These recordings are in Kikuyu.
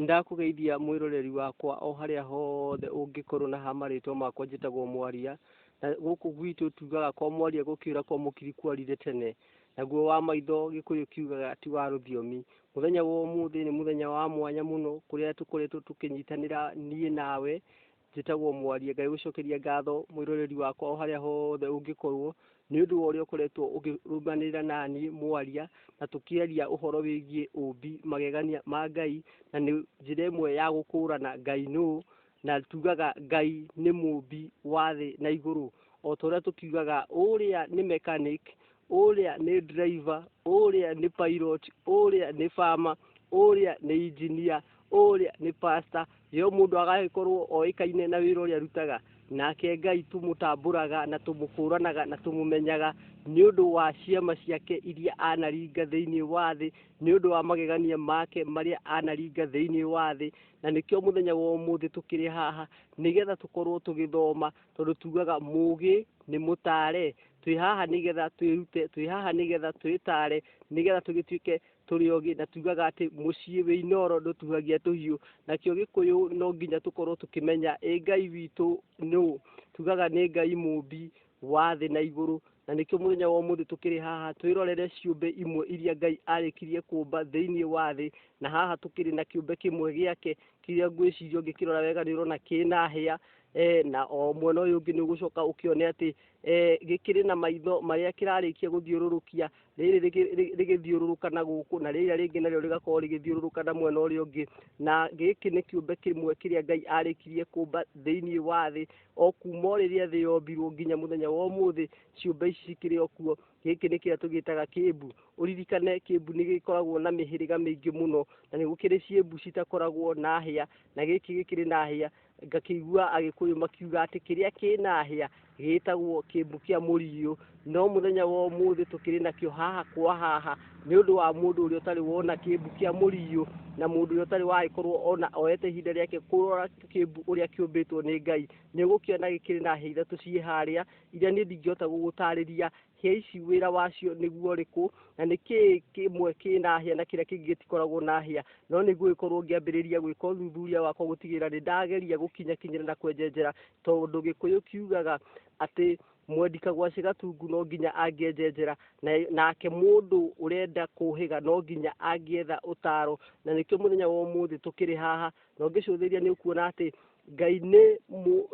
Ndakũgeithia mwĩroreri wakwa o harĩa hothe ũngĩkorwo na ha marĩtwa makwa njĩtagwo mwaria na gũkũ gwitũ tugaga kwa mwaria gũkĩũra kwa mũkiri kwarire tene naguo wa maitho gĩkũyũ kiugaga ti wa rũthiomi mũthenya wa ũmũthĩ nĩ mũthenya wa mwanya mũno kũrĩa tũkoretwo tũkĩnyitanĩra niĩ nawe Njĩtagwo mwarie Ngai gũcokeria ngatho mwĩroreri wakwa o harĩa hothe ũngĩkorwo nĩ ũndũ wa ũrĩa ũkoretwo ũkĩrũmanĩrĩra nani mwaria na tũkĩaria ũhoro wĩgiĩ ũmbi magegania ma Ngai na nĩ njĩra ĩmwe ya gũkũrana Ngai nũ na tugaga Ngai nĩ mũmbi wa thĩ na igũrũ o ta ũrĩa tũkiugaga ũrĩa nĩ mechanic ũrĩa nĩ driver ũrĩa nĩ pilot ũrĩa nĩ farmer ũrĩa nĩ engineer ũrĩa nĩ pastor Rĩo mũndũ agagĩkorwo oĩkaine na wĩra ũrĩa arutaga, nake Ngai tũmũtambũraga na tũmũkũranaga na tũmũmenyaga nĩ ũndũ wa ciama ciake iria anaringa thĩinĩ wa thĩ, nĩ ũndũ wa magegania make marĩa anaringa thĩinĩ wa thĩ. Na nĩkĩo mũthenya wa ũmũthĩ tũkĩrĩ haha nĩgetha tũkorwo tũgĩthoma tondũ tugaga mũgĩ nĩ mũtare. Twĩ haha nĩgetha twĩrute, twĩ haha nĩgetha twĩtare, nĩgetha tũgĩtuĩke tũrĩ ogĩ na tugaga atĩ mũciĩ wĩ inoro ndũtuhagia tũhiũ nakĩo gĩkũyũ no nginya tũkorwo tũkĩmenya ĩ ngai witũ nũ tugaga nĩ ngai mũmbi wa thĩ na igũrũ na nĩkĩo mũthenya wa ũmũthĩ tũkĩrĩ haha twĩrorere ciũmbe imwe iria ngai arĩkirie kũmba thĩinĩ wa thĩ na haha tũkĩrĩ na kĩũmbe kĩmwe gĩake kĩrĩa ngwĩciria ũngĩkĩrora wega nĩ ũrona kĩna hĩa e, na o mwena ũyũ ũngĩ nĩ ũgũcoka ũkĩone atĩ e, gĩkĩrĩ na maitho marĩa kĩrarĩkia gũthiũrũrũkia rĩrĩ rĩgĩ- rĩ- rĩgĩthiũrũrũka na gũkũ na rĩrĩa rĩngĩ narĩo rĩgakorwo rĩgĩthiũrũrũka na mwena ũrĩa ũngĩ na gĩkĩ nĩ kĩũmbe kĩmwe kĩrĩa ngai arĩkirie kũmba thĩinĩ wa thĩ o kuma o rĩrĩa thĩ yombirwo nginya mũthenya wa ũmũthĩ ciũmbe ici cikĩrĩ o kuo gĩkĩ nĩ kĩrĩa tũgĩtaga kĩmbu ũririkane kĩmbu nĩ gĩkoragwo na mĩhĩrĩga mĩingĩ mũno na nĩ gũkĩrĩ ciĩmbu citakoragwo na hĩa na gĩkĩ gĩkĩrĩ na hĩa ngakĩigua agĩkũyũ makiuga atĩ kĩrĩa kĩnahĩa gĩtagwo kĩmbu kĩa mũriũ no mũthenya wa ũmũthĩ tũkĩrĩ nakĩo haha kwa haha nĩ ũndũ wa mũndũ ũrĩa ũtarĩ wona kĩmbu kĩa mũriũ na mũndũ ũrĩa ũtarĩ wagĩkorwo ona oete ihinda rĩake kũrora kĩmbu ũrĩa kĩũmbĩtwo nĩ ngai nĩ ũgũkĩona gĩkĩrĩ na hĩa ithatũ ciĩ harĩa iria niĩ ndingĩhota gũgũtarĩria hĩa ici wĩra wacio nĩguo ũrĩkũ na nĩ kĩĩ kĩmwe kĩna hĩa na kĩrĩa kĩngĩ gĩtikoragwo na hĩa no nĩguo gĩkorwo ngĩambĩrĩria gwĩka ũthuthuria wakwa gũtigĩrĩra nĩ ndageria gũkinyakinyĩra na kwenjenjera tondũ gĩkũyũ kiugaga atĩ mwendi kagwacĩ gatungu no nginya angĩenjenjera nake mũndũ ũrenda kũhĩga no nginya angĩetha ũtaro na nĩkĩo mũthenya wa ũmũthĩ tũkĩrĩ haha na ũngĩcũthĩrĩria nĩ ũkuona atĩ Ngai nĩ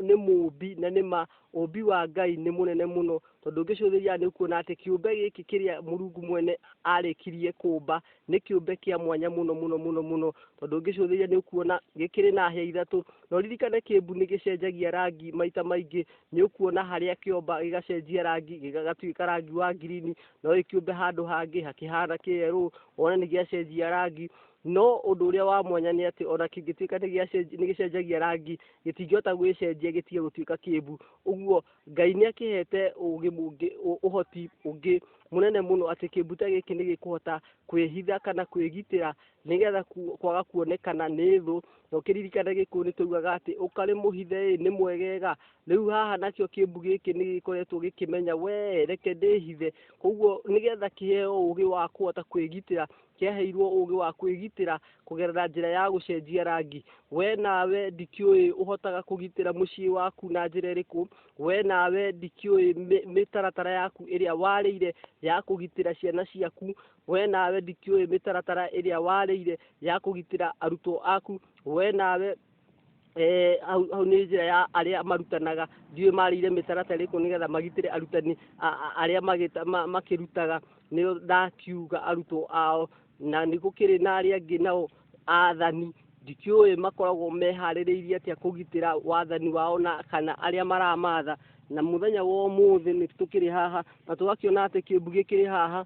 nĩ mũũmbi na nĩ ma ũũmbi wa Ngai nĩ mũnene mũno tondũ ũngĩcũthĩrĩria nĩ ũkuona atĩ kĩũmbe gĩkĩ kĩrĩa Mũrungu mwene arĩkirie kũũmba nĩ kĩũmbe kĩa mwanya mũno mũno mũno mũno tondũ ũngĩcũthĩrĩria nĩ ũkuona gĩkĩrĩ na hĩa ithatũ no ririkane kĩmbu nĩ gĩcenjagia rangi maita maingĩ nĩ ũkuona harĩa kĩomba gĩgacenjia rangi gĩgatuĩka rangi wa ngirini no gĩkĩũmbe handũ hangĩ hakĩhana kĩerũ wona nĩ gĩacenjia rangi No ũndũ ũrĩa wa mwanya nĩ atĩ ona kĩngĩtuĩka nĩ gĩcenjagia rangi, gĩtingĩhota gwĩcenjia gĩtige gũtuĩka kĩĩmbu. Ũguo Ngai nĩ akĩhete ũũgĩ mũngĩ, ũhoti ũngĩ mũnene mũno atĩ kĩĩmbu ta gĩkĩ nĩ gĩkũhota kwĩhitha kana kwĩgitĩra nĩgetha kwaga kuonekana nĩ thũ. Na ũkĩririkane Gĩkũyũ nĩ twaugaga atĩ ũkarĩ mũhithe ĩ nĩ mwegega. Rĩu haha nakĩo kĩĩmbu gĩkĩ nĩ gĩkoretwo gĩkĩmenya we reke ndĩhithe. Kwoguo nĩgetha kĩheo ũũgĩ wa kũhota kwĩgitĩra kĩaheirwo ũgĩ wa kwĩgitĩra kũgerera njĩra ya gũcenjia rangi. We nawe ndikĩũĩ ũhotaga kũgitĩra mũciĩ waku na njĩra ĩrĩkũ. We nawe ndikĩũĩ mĩtaratara yaku ĩrĩa warĩire ya kũgitĩra ciana ciaku. We nawe ndikĩũĩ mĩtaratara ĩrĩa warĩire ya kũgitĩra arutwo aku. We nawe eh, hau, hau nĩ njĩra ya arĩa marutanaga ndiũĩ marĩire mĩtaratara ĩrĩkũ nĩgetha magitĩre arutani a- a- arĩa magĩta- ma- makĩrutaga nĩo ndakiuga arutwo ao na nĩ gũkĩrĩ na arĩa angĩ nao athani ndikĩũĩ makoragwo meharĩrĩirie atĩa kũgitĩra wathani wao na kana arĩa maramatha na mũthenya wa ũmũthĩ nĩ tũkĩrĩ haha na tũgakĩona atĩ kĩmbu gĩkĩrĩ haha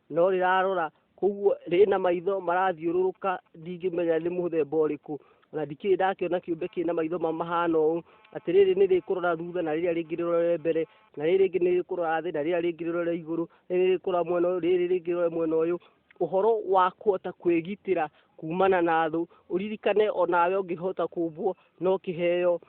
no rĩrarora koguo rĩna maitho marathiũrũrũka ndingĩmenya nĩ mũthemba ũrĩkũ na ndikĩrĩ ndakĩona kĩũmbe kĩrĩ na maitho mahana ũũ atĩ rĩrĩ nĩ rĩkũrora thutha na rĩrĩa rĩngĩ rĩrore mbere na rĩrĩ rĩngĩ nĩ rĩkũrora thĩ na rĩrĩa rĩngĩ rĩrore igũrũ rĩrĩ rĩkũrora mwena ũyũ rĩrĩ rĩngĩ rĩrore mwena ũyũ ũhoro wa kũhota kwĩgitĩra kumana na thũ ũririkane onawe ũngĩhota kumbwo no kĩheo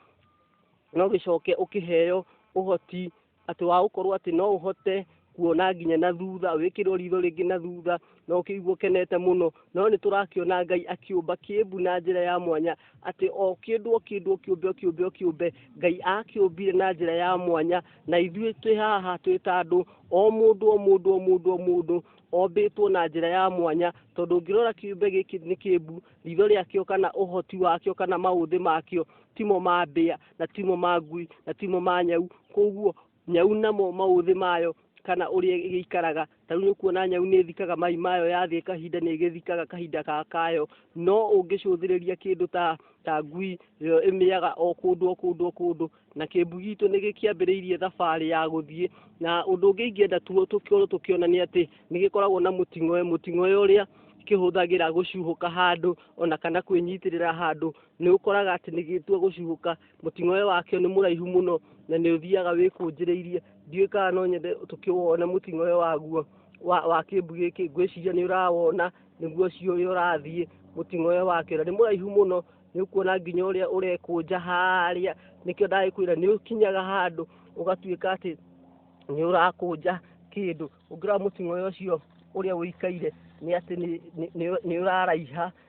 no gĩcoke ũkĩheo ũhoti atĩ wa gũkorwo atĩ no ũhote kuona nginya na thutha wĩkĩrwo ritho rĩngĩ na thutha na ũkĩigua ũkenete mũno no nĩ tũrakĩona ngai akĩũmba kĩmbu na njĩra ya mwanya atĩ o kĩndũ o kĩndũ o kĩũmbe o kĩũmbe o kĩũmbe ngai akĩũmbire na njĩra ya mwanya na ithuĩ twĩ haha twĩ ta andũ o mũndũ o mũndũ o mũndũ o mũndũ ombĩtwo na njĩra ya mwanya tondũ ũngĩrora kĩũmbe gĩkĩ nĩ kĩmbu ritho rĩakĩo kana ũhoti wakĩo kana maũthĩ makĩo timo ma mbĩa na timo ma ngui na timo ma nyau koguo nyau namo maũthĩ mayo kana ũrĩa ĩgĩikaraga ta rĩu nĩkuona nyau nĩ ĩthikaga mai mayo yathiĩ kahinda nĩ ĩgĩthikaga kahinda ga kayo no ũngĩcũthĩrĩria kĩndũ ta ta ngui ĩyo ĩmĩaga o kũndũ o kũndũ o kũndũ na kĩmbu gitũ nĩ gĩkĩambĩrĩirie thabarĩ ya gũthiĩ na ũndũ ũngĩ ingĩenda tũkorwo tũkĩona nĩ atĩ nĩ gĩkoragwo na mũting'oe mũting'oe ũrĩa kĩhũthagĩra gũcuhũka handũ ona kana kwĩnyitĩrĩra handũ nĩ ũkoraga atĩ nĩ gĩtua gũcihũka mũting'oe wakĩo nĩ mũraihu mũno na nĩ ũthiaga wĩkũnjĩrĩirie ndiũĩ kana no nyende tũkĩwone mũting'oe waguo wa, wa kĩmbu gĩkĩ ngwĩciria nĩ ũrawona nĩguo ũcio ũrĩa ũrathiĩ mũting'oe wakĩo na nĩ mũraihu mũno nĩ ũkuona nginya ũrĩa ũrekũnja harĩa nĩkĩo ndagĩkwĩra nĩ ũkinyaga handũ ũgatuĩka atĩ nĩ ũrakũnja kĩndũ ũngĩrora mũting'oe ũcio ũrĩa ũikaire nĩ atĩ nĩ- nĩ- nĩ- nĩ ũraraiha